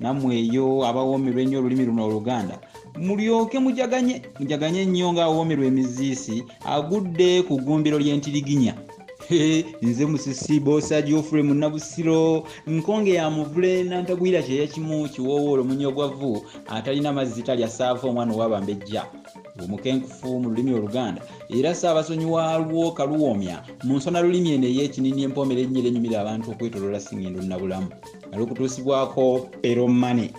namwe eyo abawoomerwa ennyo olulimi luno oluganda mulyoke mujaganye mujaganye nnyo ng'awoomerwa emiziisi agudde ku ggumbiro ly'entiriginya nze musisi bosa geofrey munabusiro nkonge ya muvule nantagwira kyeya kimu kiwoowoolo munyogwavu atalina mazzi talya saafa omwana owabambejja omukenkufu mu lulimi oluganda era saabasonyi waalwo kaluwoomya mu nsona lulimi eno ey'ekinini empoomera ennyira enyumira abantu okwetolola singendo nabulamu ali okutuusibwako eromane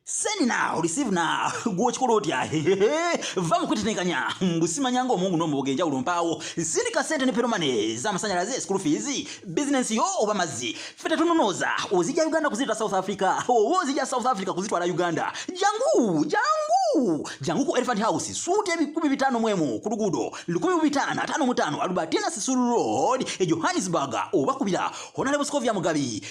send now receive now gwokikola otya va mukwetetenkanya mbusimanya nga omungu nomuboga enjawulo mpaawo sindika sente ne peromane zamasanyalaze school fees bizinensi yo oba mazzi fe tetunonooza ozija uganda kuzitwala south africa oba ozija south africa kuzitwala uganda jangu jangu jangu ku elephant house suuti ebikumi bitaano mwemu ku luguudo lukumi mu bitaano ataano mutaano alubatina sisulu road e johannesburg oba kubira honaleboscovia mugabi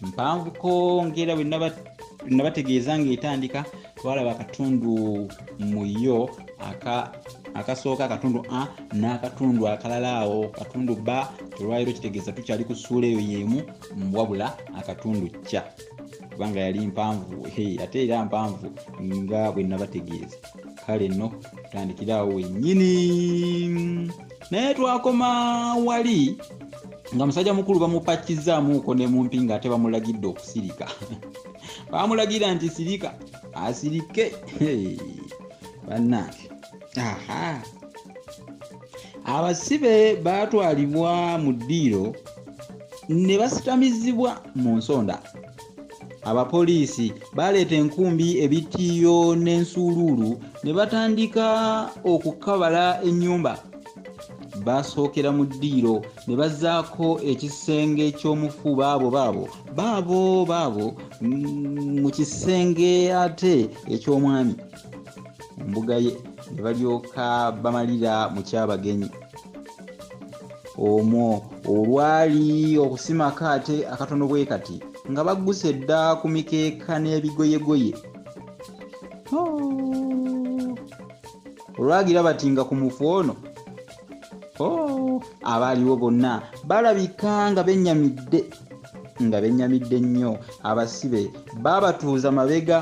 mpanvuko ngaera bwenabategeeza ngaetandika twalaba akatundu muyo akasooka akatundu a n'akatundu akalala awo katundu ba olwaliro kitegeeza tukyali ku suula eyo yemu wabula akatundu kya kubanga yali mpanvu ate era mpanvu nga bwenabategeeza kale no tutandikira awo wennyini naye twakoma wali nga musajja mukulu bamupakizaamuuko ne mumpi ng'ate bamulagidde okusirika bamulagira nti sirika asirike bannange aha abasibe baatwalibwa mu ddiiro ne basitamizibwa mu nsonda abapoliisi baaleeta enkumbi ebitiiyo n'ensuuluulu ne batandika okukabala ennyumba baasookera mu ddiiro ne bazzaako ekisenge ky'omufu baabo baabo baabo baabo mm, mu kisenge ate eky'omwami mbuga ye ne balyoka bamalira mu kyabagenyi omwo olwali okusimako ate akatono bwe kati nga bagguse edda ku mikeeka n'ebigoyegoye oh. olwagira bati nga ku mufu ono oh. abaaliwo bonna balabika nga benyamidde nga benyamidde nnyo abasibe baabatuuza mabega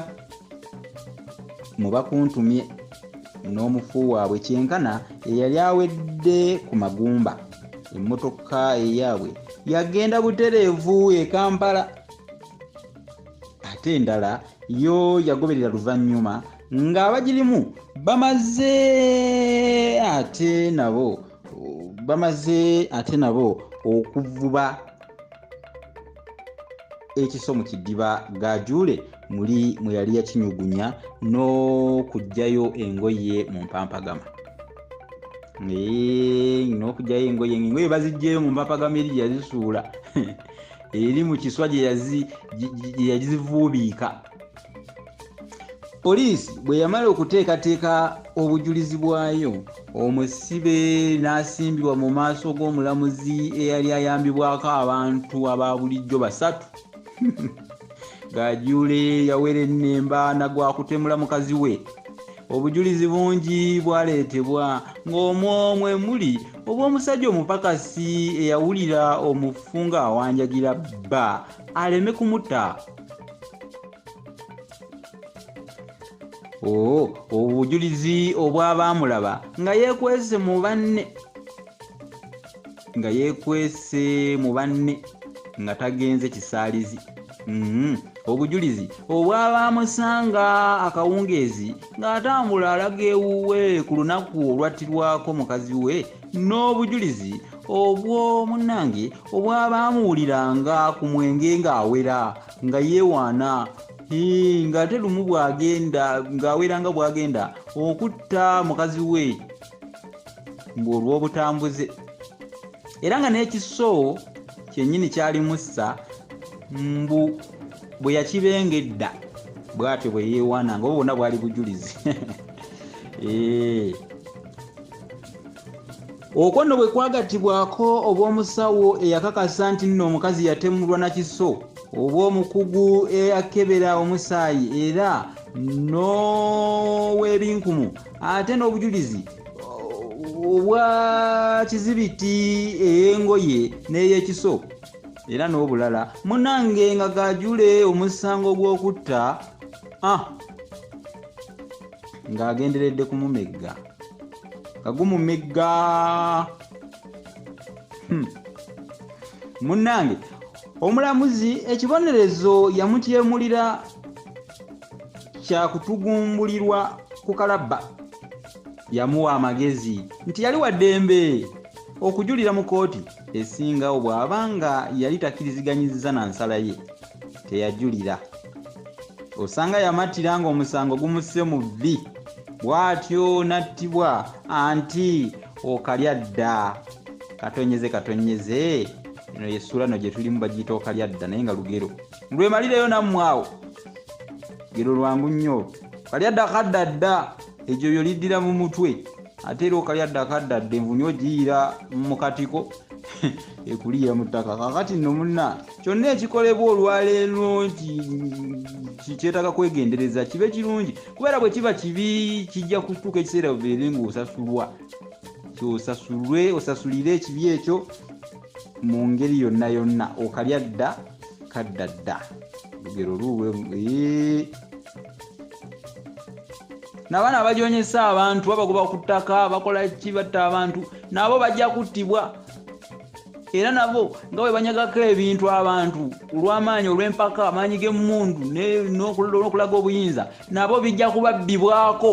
mu bakuntumye n'omufu waabwe kyenkana eyali awedde ku magumba emmotoka eyaabwe yagenda butereevu e kampala ate endala yo yagoberera luvannyuma ng'abagirimu bamaze ate nabo bamaze ate nabo okuvuba ekiso mu kidiba gajule muli mwe yali yakinyugunya n'okugyayo engoye mu mpampagama n'okugyayo engoye ngaengoye bazijjayo mu mpampagama eri gyeyazisuula eri mu kiswa gyeyazivuubiika poliisi bwe yamala okuteekateeka obujulizi bwayo omusibe n'asimbibwa mu maaso g'omulamuzi eyali ayambibwako abantu aba bulijjo basatu gajuule yawera ennemba nagwakutemula mukazi we obujulizi bungi bwaleetebwa ng'omwomwe muli obw'omusajja omupakasi eyawulira omufu ng'awanjagira bba aleme kumuta oh, obujulizi obw'abaamulaba nga yeekwese mu banne nga yeekwese mu banne nga tagenze kisaalizi mm-hmm. obujulizi obwabaamusanga akawungeezi ng'atambula alaga ewuwe ku lunaku olwattirwako mukazi we n'obujulizi obw'omunnange obwaba amuwuliranga ku mwenge ng'awera nga yeewaana ng'ate lumu bw'agenda ng'awera nga bw'agenda okutta mukazi we ng'olw'obutambuze era nga n'ekiso kyennyini kyali mussa mbu bwe yakibenga edda bw'atyo bwe yeewaana nga obwo bwonna bwali bujulizi eee eh. okwo nno bwe kwagattibwako obw'omusawo eyakakasa nti nno omukazi yatemulwa na kiso oba omukugu eyakebera omusaayi era n'ow'ebinkumu ate n'obujulizi obwa kizibiti ey'engoye n'ey'ekiso era n'obulala munange nga gajule omusango gw'okutta ah, ng'agenderedde kumumegga kagumumigga hmm. munnange omulamuzi ekibonerezo yamutyemulira kyakutugumbulirwa ku kalabba yamuwa amagezi nti yali waddembe okujulira mu kooti esingawo bw'aba nga yali takiriziganyiza na nsala ye teyajulira osanga yamattira ng'omusango gumusse mu vvi bw'atyo n'attibwa anti okalya dda katonyeze katonyeze eno yesuula no gye tulimu bagiyita okalya dda naye nga lugero lwemalireyo nammwe awo lugero lwangu nnyo kalya dda kadda dda egyo byo liddira mu mutwe ate era okalya dda kadda dda envunyu ogiyira mu katiko ekuliira mu ttaka kakati nno munna kyonna ekikolebwa olwaleero nti kyetaaga kwegendereza kibe kirungi kubeera bwe kiba kibi kijja kutuuka ekiseera obeere ng'osasulwa kyosasulwe osasulire ekibi ekyo mu ngeri yonna yonna okalya dda kadda dda lugero luwe nabaana abajonyesa abantu babagoba ku ttaka bakola ki batta abantu nabo bajja kuttibwa era nabo nga bwe banyagako ebintu abantu olw'amaanyi olw'empaka amaanyi g'emmundu n'okulaga obuyinza nabo bijja kubabbibwako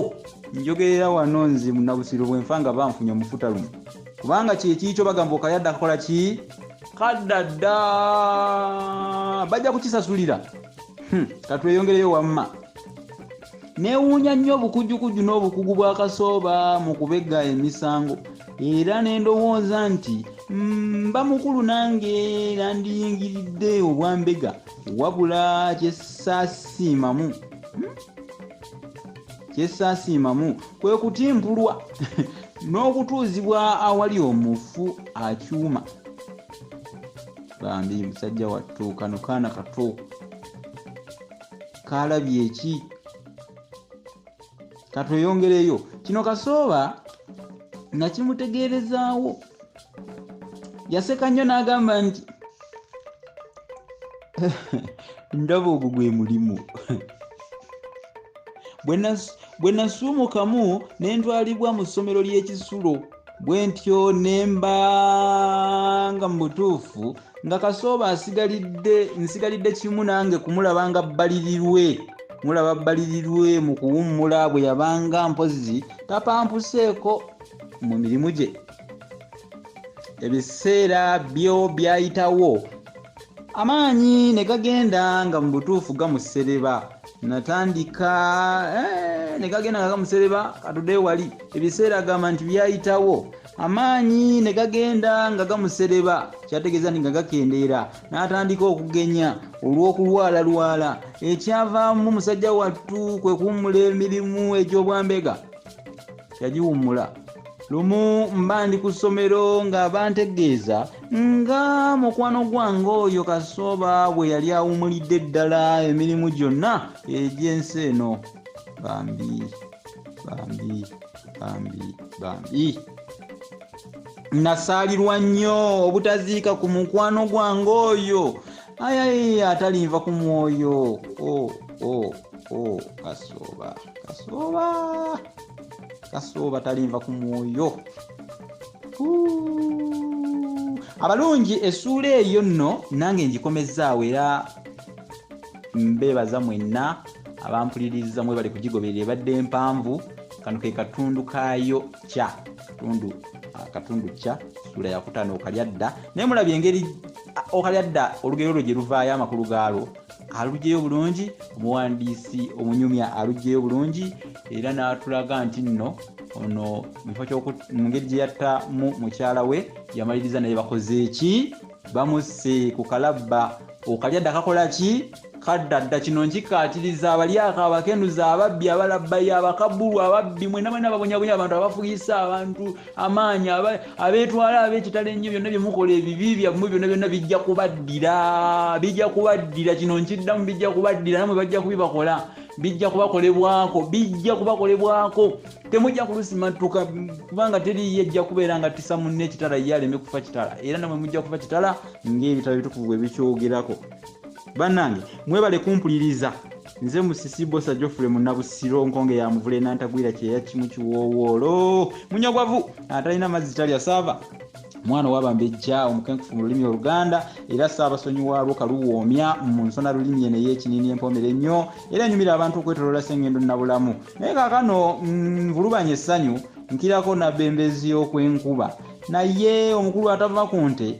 njogerera wano nze munabusiro bwenfa nga banfunye omufuta lumu kubanga kyekiikyo bagamba okayadde akakola ki kadda dda bajja kukisasulira hmm, katweyongereyo wamma Neewuunya nnyo obukujjukujju n'obukugu bwa Kasooba mu kubegga emisango era ne ndowooza nti mba mm, mukulu nange era ndiyingiridde obwambega wabula kyesaasiimamu hmm? kyesaasiimamu kwe kutimpulwa n'okutuuzibwa awali omufu akyuma bambi musajja wattu kano kaana kato kalabye eki katweyongereyo kino kasooba nakimutegeerezaawo yaseka nnyo n'agamba nti ndaba ogwo gwe mulimu bwe nasuumukamu ne ntwalibwa mu ssomero ly'ekisulo bwe ntyo ne mbanga mu butuufu nga kasooba asigalidde nsigalidde kimu nange kumulaba nga bbalirirwe mulaba bbalirirwe mu kuwummula bwe yabanga mpozi tapampuseeko mu mirimu gye ebiseera byo byayitawo amaanyi ne gagenda nga mu butuufu gamusereba natandika eh, ne gagenda nga gamusereba katude wali ebiseera agamba nti byayitawo amaanyi ne gagenda nga gamusereba kyategeeza nti nga gakendeera n'atandika okugenya olw'okulwalalwala ekyavaamu musajja wattu kwe kuwummula emirimu egy'obwambega yagiwummula lumu mba ndi ku ssomero nga bantegeeza nga mukwano gwange oyo kasooba bwe yali awumulidde ddala emirimu gyonna egy'ensi eno bambi bambi bambi bambi nasaalirwa nnyo obutaziika ku mukwano gwange oyo ayayi atalinva ku mwoyo o oh, o oh, o oh, kasooba kasooba kasuba obatalinva ku mwoyo abalungi esuula eyo nno nange ngikomezzaawo era mbeebaza mwenna abampuliriza mwe bali kugigoberera ebadde mpanvu kano ke katundu kaayo kya katundu akatundu ah, kya suula yakutaano okalya dda naye mulabye engeri ah, okalya dda olugero lwo gye luvaayo amakulu gaalwo alugyeyo bulungi omuwandiisi omunyumya alugyeyo bulungi era n'atulaga nti nno ono mu ngeri gye yattamu mukyala we yamaliriza naye bakoze eki bamusse ku kalabba okalya dda kakola ki kadda dda kino nkikkaatiriza abalyako abakenuza ababbi abalabbayo abakabulu ababbi mwena mwena babonyabonya abantu abafuyisa abantu amaanyi abeetwala ab'ekitalo ennyo byonna bye mukola ebibi byammwe byonna byonna bijja kubaddira bijja kubaddira kino nkiddamu bijja kubaddira namwe bajja kubibakola bijja kubakolebwako bijja kubakolebwako temujja kulusimattuka kubanga teriyo ejja kubeera nga tisa munne ekitala ye aleme kufa kitala era namwe mujja kufa kitala ng'ebitala bitukuvu bwe bikyogerako bannange mwebale kumpuliriza nze musisi bosa jofule munabusiro nkonge ya muvule nantagwira kyeya kimu kiwowoolo munyagwavu atalina mazzi talya saava mwana owabambejja omukenkufu mu lulimi oluganda era saabasonyi waalwo kaluwoomya mu nsona lulimi eno ey'ekiniini empomere ennyo era enyumira abantu okwetolola sengendo nabulamu naye kakano mm, nvulubanya essanyu nkirako nabembezi y'okwenkuba naye omukulu atava ku nte